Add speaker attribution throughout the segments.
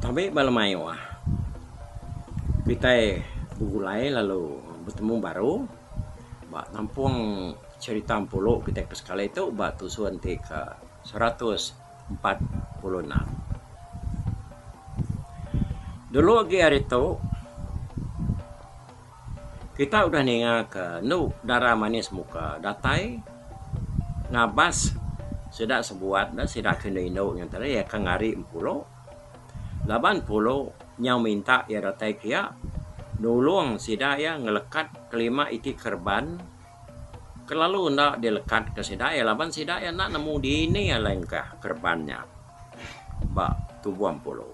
Speaker 1: Tabe ba lemaioa kitai begulai lalu betemu baru ba nampong cherita empulu kitai kesekali tu ba tusun ti ke seratus. empat puluh enam. Dulu agi hari tu kita udah ninga ke enu dara manis muka datai ngabas sida sebuat ne sida ke inu inu ngan tadi iya ke ngari empulo laban pulo nyau minta iya datai kiya nulung sida iya ngelekat kelima iti kereban Kelalu enda dilekatka sida iya laban sida iya enda nemu dini alai engkah kereban nya ba tubuh Empulu.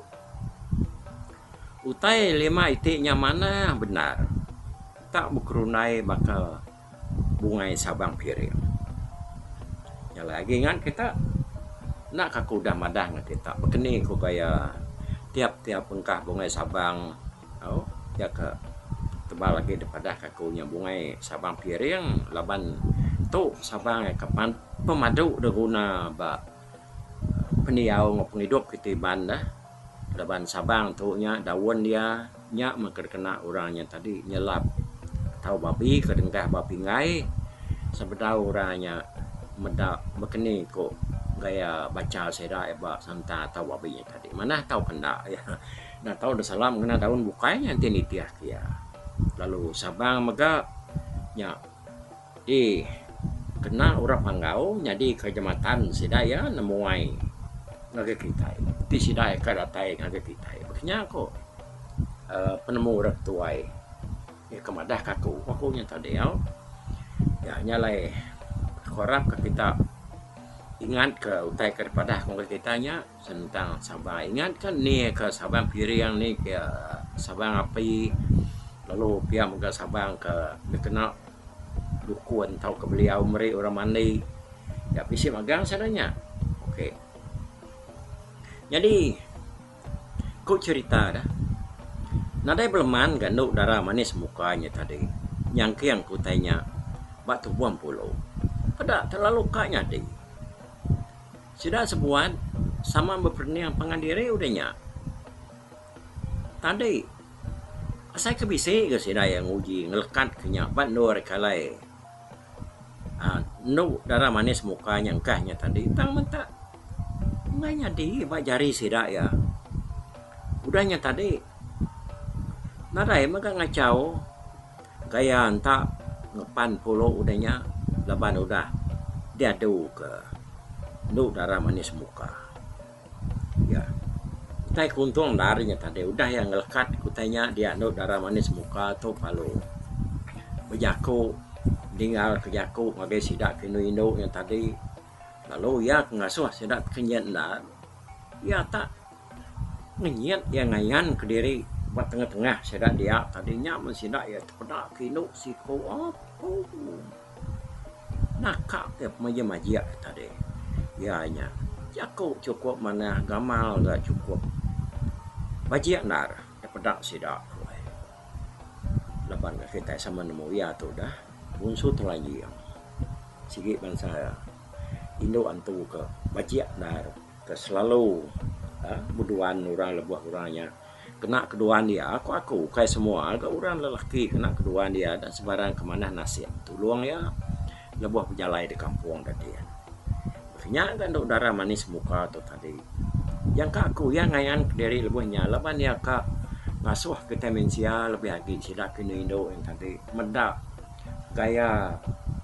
Speaker 1: Utai lima iti nya manah bendar tak bekerundai baka bungai sabang piring. Nya alai agi ngan kita enda ka aku udah madah ngan kita bekeni ku gaya tiap-tiap engkah bungai sabang. Au, nya ka tebal agi dipadah ka aku nya bungai Sabang Piring laban tu Sabang iya ka pan pemadu da guna ba pendiau enggau pengidup kita Iban da laban Sabang tu nya daun dia nya meh ka dikena orang nya tadi nyelap tau babi ka dengah ba pinggai sebedau orang nya meda bekeni ku gaya bancha sida iya ba santa tau babi nya tadi manah tau ke enda. Enda tau enda salam ngena daun bukai nya enti nitihka iya. Lalu Sabang mega nya di kena orang Panggau nyadi kehijmatan sida iya nemuai ngagai kitai. Ti sida iya ka datai ngagai kitai. Baka nya ko uhh penemu orang ke tuai iya ka madah ka aku. Ku aku nya tadi au. Nya nya alai aku arap ka kita ingat ka utai ka dipadah ngagai kita nya. Sentang saban ingat ka ni ka saban piring ni ke saban api lalu pia mega saban ke dikena dukun tauka beliau meri orang mandi nya bisi magang sida nya ok nyadi ku cerita da nadai beleman ga anu dara manis muka nya tadi nyangking ku utai nya ba tubuh mempulu peda terlalu ka nyadi. Sida sebuat sama beperening pangan diri udah nya. Tadi, asai ke bisi ga sida iya nguji ngelekat ke nya ba endur reka alai. aaa Enu darah manis muka nya engkah nya tadi tang menta enggai nyadi ba jari sida iya. Udah nya tadi, nadai mega ngachau Ke iya enta ngepan pulu udah nya laban udah diadu ke endu dara manis muka iya. Utai ke untung endar nya tadi udah iya ngelekat ke utai nya dia endu dara manis muka tu palu bejaku ningal ke jaku ngagai sida ke indu indu nya tadi lalu iya ke ngasuh sida ke nyien endar iya tak Ngenyit iya ngayanka diri ba tengah-tengah sida dia tadi nya men sida iya tepeda ke indu siko apu naka ke pemajik-majik ke tadi iya nya jaku chukup manah gamal da chukup bajik endar dipeda sida tu ai laban ne kitai sama nemu iya tu dah bunsu Telanjing sigi bansa indu antu ke bajik endar. Ke selalu beduan orang lebuh orang nya kena keduan iya ku aku ukai semua ga orang lelaki kena keduan iya enda sebarang ke manah nasim tulung iya lebuh bejalai di kampung da dian. Nya ga enda udara manis muka tu tadi. Nyangka aku iya ngayan ke diri lebuh nya laban iya ka ngasuh kitai mensia lebih agi sida ke indu indu nya tadi meda gaya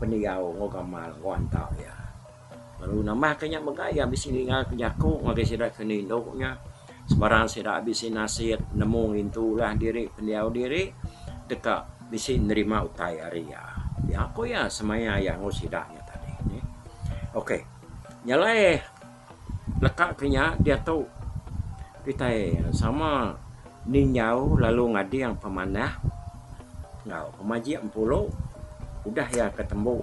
Speaker 1: pendiau enggau gamal enggau anta iya. Lalu nambah ka nya mega iya bisi ninga ke jaku ngagai sida ke nindu nya sebarang sida bisi nasit nemu ngintu ulah diri pendiau diri deka bisi nerima utai ari iya. Pia ku iya semaya iya enggau sida nya tadi nih. Ok nya alai leka ke nya diatu kitai sama ninjau lalu ngading pemanah enggau pemajik empulu udah iya ke tembu.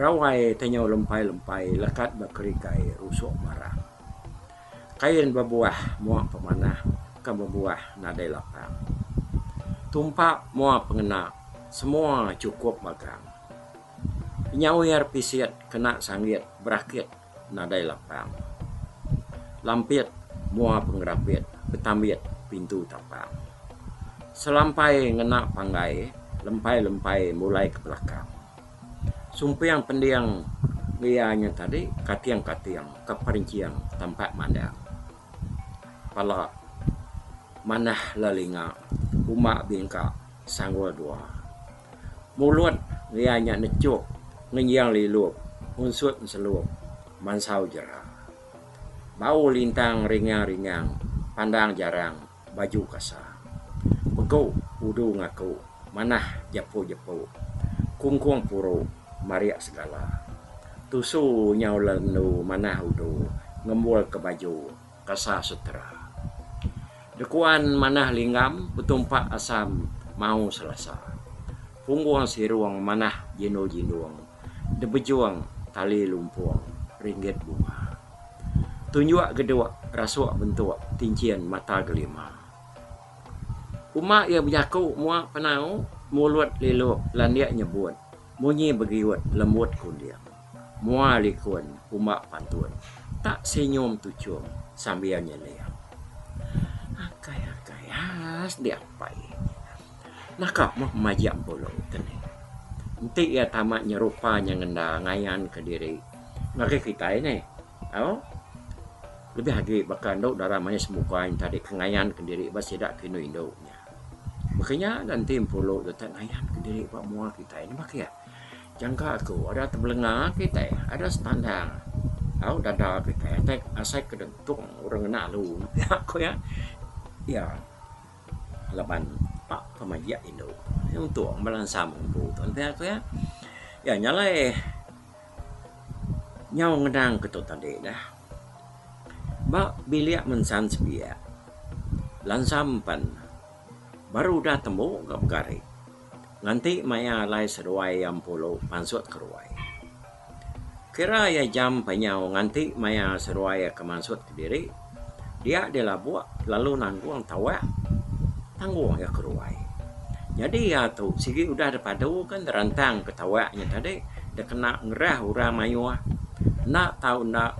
Speaker 1: Rawai tenyau lempai-lempai lekat ba kerikai rusuk barang. Kain bebuah mua pemanah ke bebuah nadai lapang. Tumpak mua pengena semua chukup bagang. Penyawer pisit kena sanggit berakit. nadai lapang. Lampit mua pengerapit betambit pintu tapang. Selampai ngena panggai lempai-lempai mulai ke belakang. Sumping pending meh iya nya tadi kating-kating ke perincing tampak mandang. Pala manah lelinga uma bingka sanggul dua. Mulut iya nya nechup ngenjing lilup unsut enselup mansau jera. Bau lintang ringang-ringang pandang jarang baju kasa. Megu udu ngaku manah jepu-jepu kungkung puru marik segala. Tusu nyau lendu manah udu ngembulka baju. Kasar Setera. Dekuan manah linggam betumpak asam mau selasa. Pumbung sirung manah jindul-jindung debejung tali lumpung ringgit bunga. Tunjuk geduk rasuk bentuk tinchin mata gelima. Kuma iya bejaku mua penau mulut lilup landik nyebut munyi begiut lembut kunding. Mua likun uma pantun tak senyum tuchum sambil nyeling. Akai akai has diapai naka meh maja empulu te ni. Enti iya tama nyerupa nya ngenda ngayan ke diri ngagai kitai neh au lebih agi baka enda dara manis muka inta deka ngayan ke diri ba sida ke indu indu nya. Baka nya enda enti empuru tu tak ngayan ke diri ba mua kitai nambah ke iya. Jangka aku ada tebelenga kitai ada sepandang au dada kitai atai asai ke dentung orang ngena alu ne pia ku iya. Iya laban pak pemayak indu iya untung bala ensam ngempu tu pia ku iya. Iya nya alai nyau ngenang ke tu tadi dah. Ba bilik mensan sebiak, Lansa empen baru udah tembu ka pegari nganti maya alai seduai iya empulu pansut ke ruai. Kira iya jam empat nyau nganti maya seduai iya ke mansut kediri, dia dilabuk lalu nanggung tawak tanggung iya ke ruai. Nyadi iya tu sigi udah deh padu ke nerentang ketawa nya tadi deh kena ngerah orang mayuh enda tau enda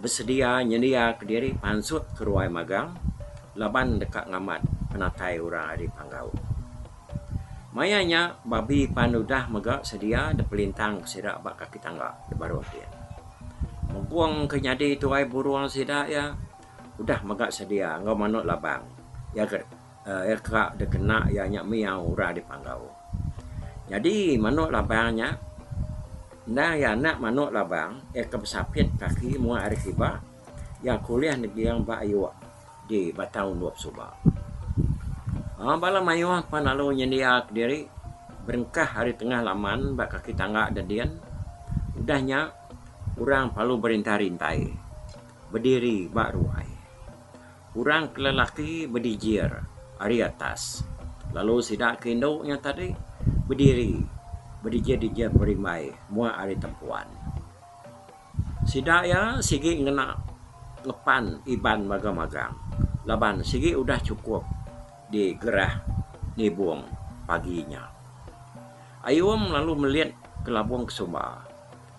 Speaker 1: besedia nyendia kediri pansut ke ruai magang laban deka ngamat penatai orang ari panggau. Maya nya babi pan udah mega sedia deh pelintang ke sida ba kaki tangga deh baruh ti. Mempung ke nyadi tuai burung sida iya udah mega sedia enggau manuk labang iya ke. Aircraft da kena iya nya miau urai dipanggau. Nyadi manuk labang nya endang iya enda manuk labang iya ke besapit kaki muak ari kiba iya kulih neging ba ayuk di batang undup suba. Aaa bala mayuh pan lalu nyendia kediri berengkah ari tengah laman ba kaki tangga da din udah nya orang parlu berintai-rintai bediri ba ruai. Orang ke lelaki bedijir ari atas, lalu sida ke indu nya tadi bediri bedijir-dijir berimbai muak ari tempuan. Sida iya sigi ngena ngepan Iban magang-magang laban sigi udah chukup digerah nibung pagi nya. Ayum lalu melit ke labung ke sumba.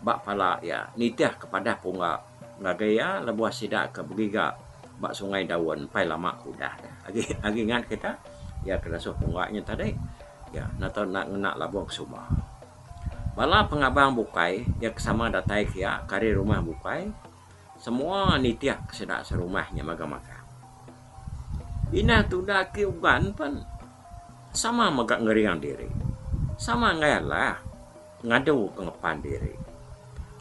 Speaker 1: ba pala iya nitih ke padah pungga ngagai iya lebuh sida ke begiga ba Sungai Daun empai lama ke udah nya. Agi agi ngat kita iya ke nasuh pungga nya tadi iya nata enda ngena labung ke suba. Bala pengabang bukai iya ke sama datai ke iya ke ari rumah bukai semua nitih ke sida serumah nya mega magang. Inah tuda ke uban pen sama mega ngering diri sama enggai alah. Ngadu pengepan diri.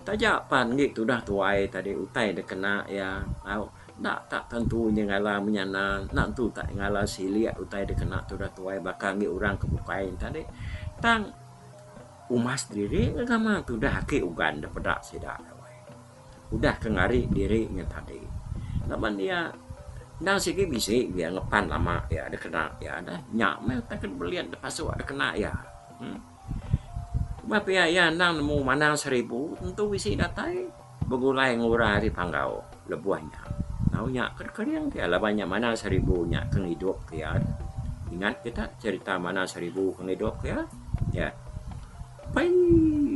Speaker 1: Taja pan enggi tudah tuai tadi utai da kena iya au enda ka tentu inya ngalar menyana enda tentu ka ngalar silik utai da kena tudah tuai baka enggi orang ke bukai ne tadi tang umas diri ngegama tudah ake ugan da peda sida udah ke ngari diri nya tadi laban iya endang sigi bisi iya ngepan lama iya da kena iya dah nya meh utai ke belian da pasuk da kena iya. Kuma pia iya endang nemu manang seribu tentu bisi datai begulai ngura ari panggau lebuh nya. Enggau nya ke kering pia laban nya manang seribu nya ke ngidup ke iya. Ingat kita cherita manang seribu ke ngidup ke iya? Iya. Pei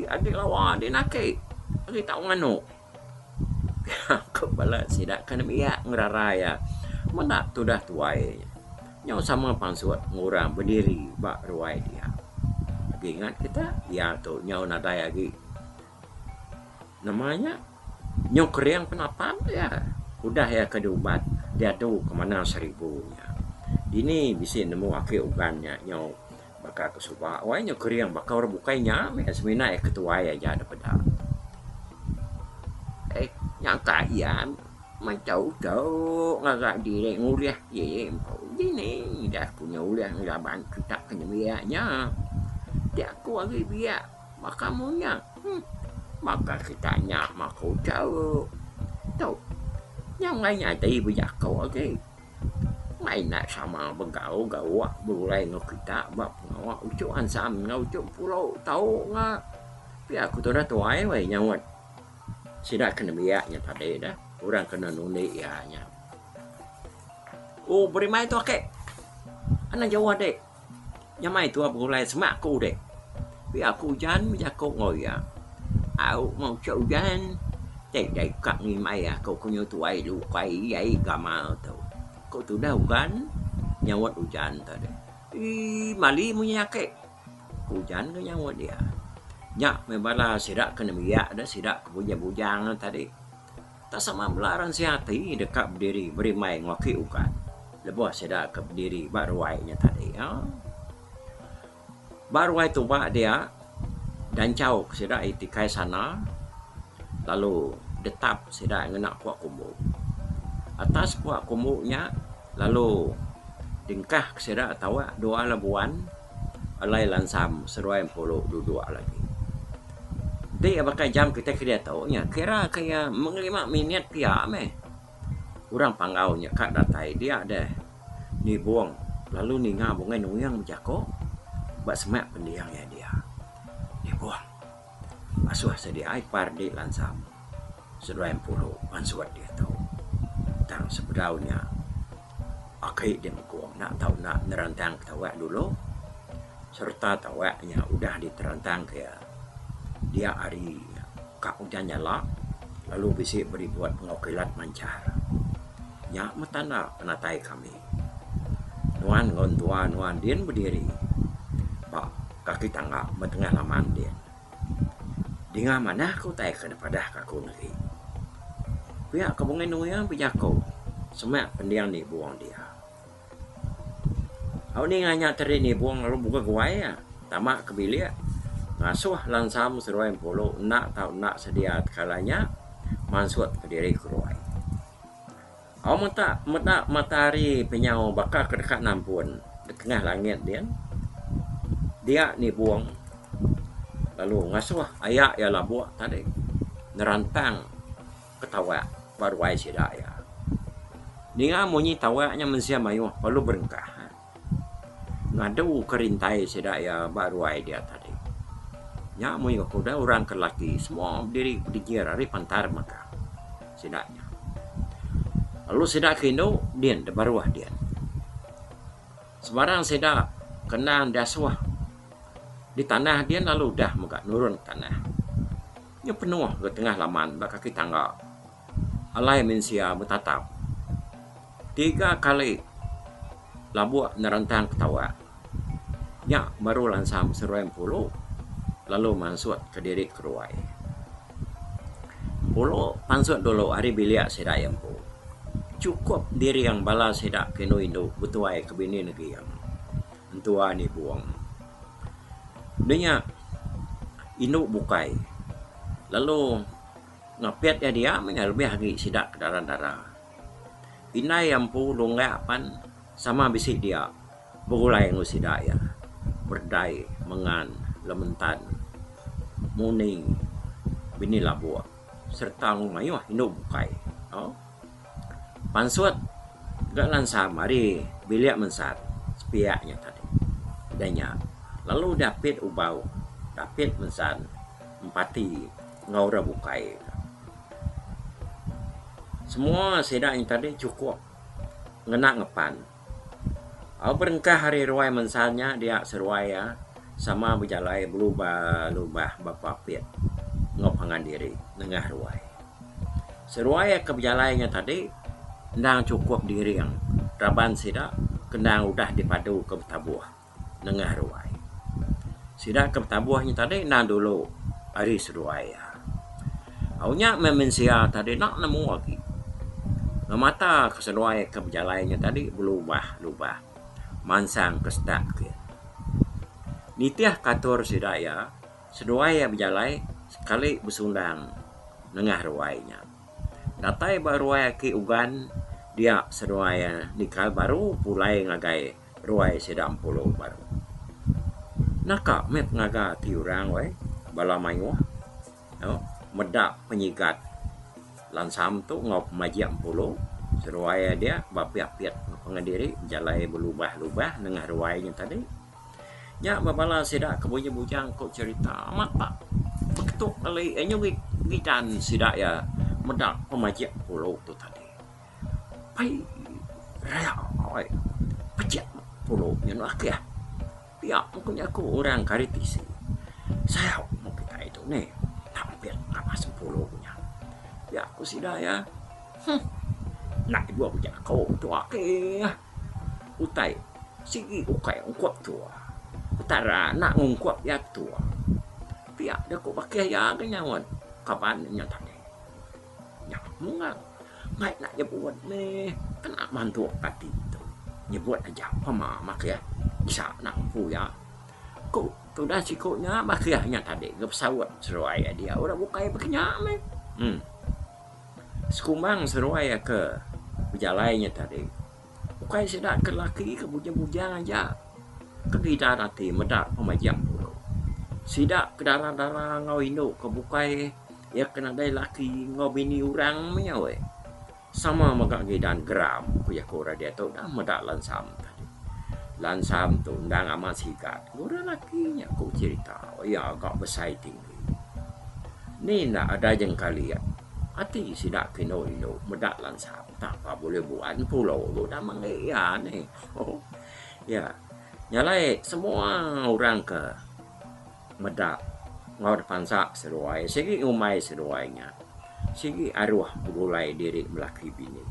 Speaker 1: agi lawa dinak agi tau nganu. Aku bala sida ke nembiak ngerara iya meda tudah tuai nya. Nyau sama pansut meng orang bediri ba ruai dia. Agi ngat kita iya tu nyau nadai agi nama nya nyau kering penapat iya. Udah iya ke diubat diadu ke manah seribu nya. Dini bisi nemu ake uban nya nyau. Baka aku suba wai nyau kering baka orang bukai nya meh semina iya ketuai aja da peda. Ai nyangka iya mechau chau ngaga diri ngulih ye ye empu dini ida aku nya ulih ngelaban kitak ke nembiak nya. Ti aku agi biak baka mu nya. Huh baka kitak nya maku chau. Tu nyau ngai nya dei bejaku agi. Mai enda sama begau gawa begulai enggau kita ba pengawa uchu ansam enggau uchu puru tau nga pia ku tudah tuai weh nyaut sida ke nembiak nya tadi dah orang kena nundi iya nya. Ku berimai tu ake. Anang jauh ade. Nyamai tua begulai semak ku udip. Pia ku ujan bejaku enggau iya. Au meh uchu ujan. Tiga ika ngimbai aku ku nyu tuai lu ukai iyai gamal tu. Ku tudah ugan nyaut ujan tu deh. Ee mali munyi ake. Ku ujan deh nyaut iya. Nya meh bala sida ke nembiak deh sida ke bujang bujang tadi. Tak sama bela ran sia ati deka bediri berimbai enggau aki ukat lebuh sida ke bediri ba ruai nya tadi. Ba ruai tuba dia danchau ke sida iti kai sana lalu detap sida ngena pua kumbu. Atas pua kumbu nya lalu dingkah ke sida tauak dua labuan. Alai lansam seruai empulu duduk lagi. Ti baka jam kitai ke diatu nya kira ke iya mung lima minit pia meh. Orang Panggau nya ka datai dia deh nibung lalu ninga bungai nuyung bejaku ba semak pendiau iya dia nibung. Asuh sedia ai par di lansam seduai empulu pan suwat diatu. Tang sebedau nya aki di mekung enda tau enda nerantang ketawa dulu sereta tawa nya udah diterantang ke iya dia hari nya ka ujan nyala lalu bisi beri buat pengokilat manchar. Nya meh tanda penatai kami. Nuan enggau entua nuan din bediri ba kaki tangga ba tengah laman din. Dinga manah ke utai ke dipadah ka aku negi. Pia ke Bunga Indu Mayang bejaku semak pending nibung dia. Au ninga nya tadi nibung lalu buka guai iya tama ke bilik ngasuh lansam seduai empulu enda tau enda sedia tekala nya mansut kediri keruai. Aumeta meda matahari penyau baka ke deka nampun di tengah langit din, dia nibung lalu ngasuh aya iya labuk tadi nerantang ke tawa ba ruai sida iya. Ninga munyi tawa nya mensia mayuh lalu berengkah. Ngadu ke rintai sida iya ba ruai dia tadi. Nya mayuh ke udah orang ke laki semua diri pegegir ari pantar mega sida nya. Lalu sida ke indu din da baruh din. Sembarang sida ke endang diasuh di tanah din lalu udah mega nurun tanah. Nya penuh ga tengah laman ba kaki tangga. Alai mensia betatap. Tiga kali labuk nerentang ketawa. Nya baru lansang beseruai empulu lalu mansut kediri keruai. Empulu pansut dulu ari bilik sida iya empu. Chukup diring bala sida ke inu indu betuai ke bini neging, entua ni bung. Deh nya indu bukai lalu. Ngapit iya dia mih iya lebih agi sida ke dara dara. Indai iya empu lunggak pan sama bisi dia begulai enggau sida iya berdai mengan lementan muni bini labuk serta enggau mayuh indu bukai tau. Pansut ga ngansa mari bilik mensat sepiak nya tadi. Dah nya lalu dapit ubau dapit mensat. Empati enggau orang bukai. Semua sida nya tadi chukup ngena ngepan. Au berengkah ari ruai mensa nya dia seruai iya sama bejalai belubah-lubah bepapit enggau pangan diri nengah ruai. Seruai iya ke bejalai nya tadi endang chukup diring raban sida ke endang udah dipadu ke betabuh. nengah ruai. Sida ke betabuh nya tadi enda dulu ari seduai iya. Au nya meh mensia tadi enda nemu agi ngemata ke seduai ke bejalai nya tadi belubah lubah mansang ke setak ke. Nitih ke atur sida iya, seduai iya bejalai sekali besundang nengah ruai nya. Datai ba ruai aki Ugan dia seduai iya nikal baru pulai ngagai Ruai sida empulu baru. Naka meh pengaga ti orang weh bala mayuh nya meda penyigat lansam tu enggau pemajik empulu seruai aja dia ba pia-pia pengen diri jalai belubah-lubah nengah ruai nya tadi. Nya meh bala sida ke bujang-bujang ku cherita amat ba beketuk kali ngerit ngidan sida iya meda pemajik empulu tu tadi. Pai raya oi pejek pulo nya enda akih. Pia pun ku nyaku orang ke ari tisi sayau mung kitai tu neh tampit ngabas sempulo ku nya. Pia ku sida iya huh enda ke juho bejako tu akih utai sigi ukai ungkup tu utai ra enda ungkup iya tu. Pia da ku bakih iya ke nyaut kaban inya tadi. Nya Mungal mai enda nyebut meh kena mantuk ati tu. Nyebut aja pema makhir bisa nang empu iya. Ku tudah siku nya makhir nya tadi ke pesaut seruai iya dia udah bukai baka nya meh. Em. Sekumbang seruai ke bejalai nya tadi. Ukai sida ke laki ke bujang-bujang aja ke gidan ati meda pemajak dulu. Sida ke dara-dara enggau indu ke bukai iya ke nadai laki enggau bini orang maya weh. Sama mega gidan geram ku jaku orang diatu dah meda lansam tadi. Lansam tu endang amat sigat. Orang laki nya ku cerita iya ga besai ti. Ni enda adai jengkali iya. Ati sida ke indu-indu meda lansa entah pa bulih buan pulo tu enda mengeri iya neh. Iya nyalai semua orang ke meda enggau dep ansa seduai sigi ngumbai seduai nya. Sigi aroh begulai diri belaki bini.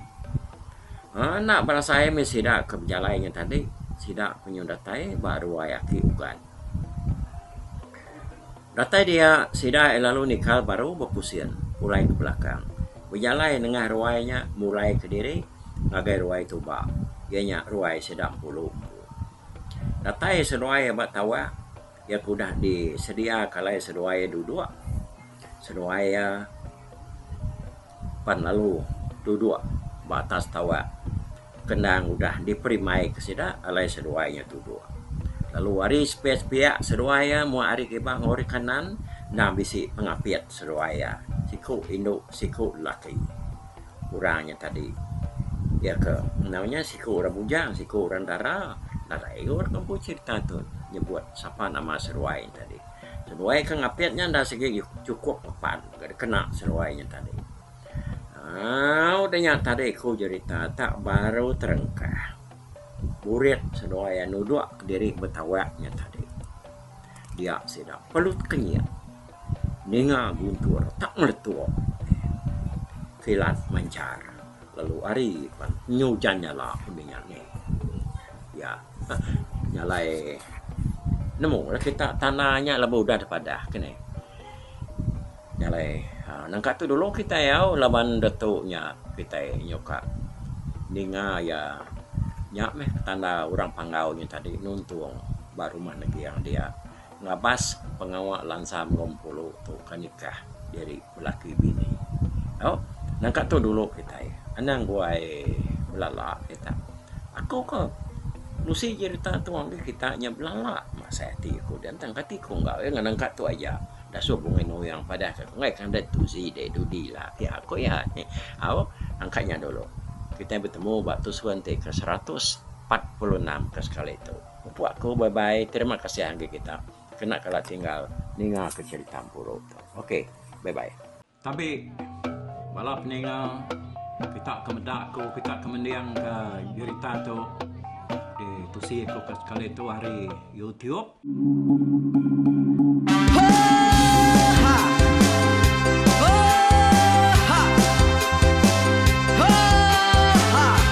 Speaker 1: Aaa enda berasai meh sida ke bejalai nya tadi. Sida penyu datai ba ruai aki ugan. Datai dia, sida iya lalu nikal baru bepusin pulai ke belakang. Bejalai nengah ruai nya mulai kediri ngagai ruai Tuba, iya nya ruai sida Empulu empu. Datai seduai iya ba tawak, iya ke udah disedia ke alai seduai iya duduk. Seduai iya, pan lalu duduk ba atas tawa ke endang udah diperi mai ke sida alai seduai iya tuduk. Lalu ari sepiak-sepiak seduai iya mung ari kiba enggau ari kanan endang bisi pengapit seduai iya, siku indu siku lelaki. Orang nya tadi iya ke enggau nya siku orang bujang siku orang dara nadai igu orang ke empu serita tu nyebut sapa nama seduai nya tadi. Seruai ke ngapit nya enda sigi chukup ngepan ga dikena seruai nya tadi. Au udah nya tadi ku jerita tak baru terengkah. Burit seduai iya nudok diri betawak nya tadi. Dia sida pelut kenyit ninga guntur tak ngeletup kilat manchar lalu ari pan penyu ujan nyala udah nya ni. Iya. Nya alai nemu lah kita tanah nya laban udah deh padah ke neh. Nya alai aaa nangka tu dulu kitai au laban ditu nya kitai nyuka ninga iya nya meh tanda orang panggau nya tadi nuntung ba rumah neging dia. Ngabas pengawa lansa enggau empulu tu ka nikah diri belaki bini. Au, nangka tu dulu kitai. Anang guai belala kita. Aku ka nusi jerita tu ngagai kita nya belala masai ati aku da tang kati ku enggau iya ngan nangka tu aja da suh bungi nuing padah ka ku enggai kandai tu ji deh dudi ila ati aku iya. Au, angka nya dulu. Kitai betemu ba Tusuan ti ke seratus empat puluh enam ka sekali tu. Empu aku bye bye terima kasih anggi kita kena kala tinggal ninga ke cerita empuru tu ok bye bye. Tabi bala peninga kita ke meda aku kita ke mending ka jerita tu di tusi aku ka sekali tu ari youtube.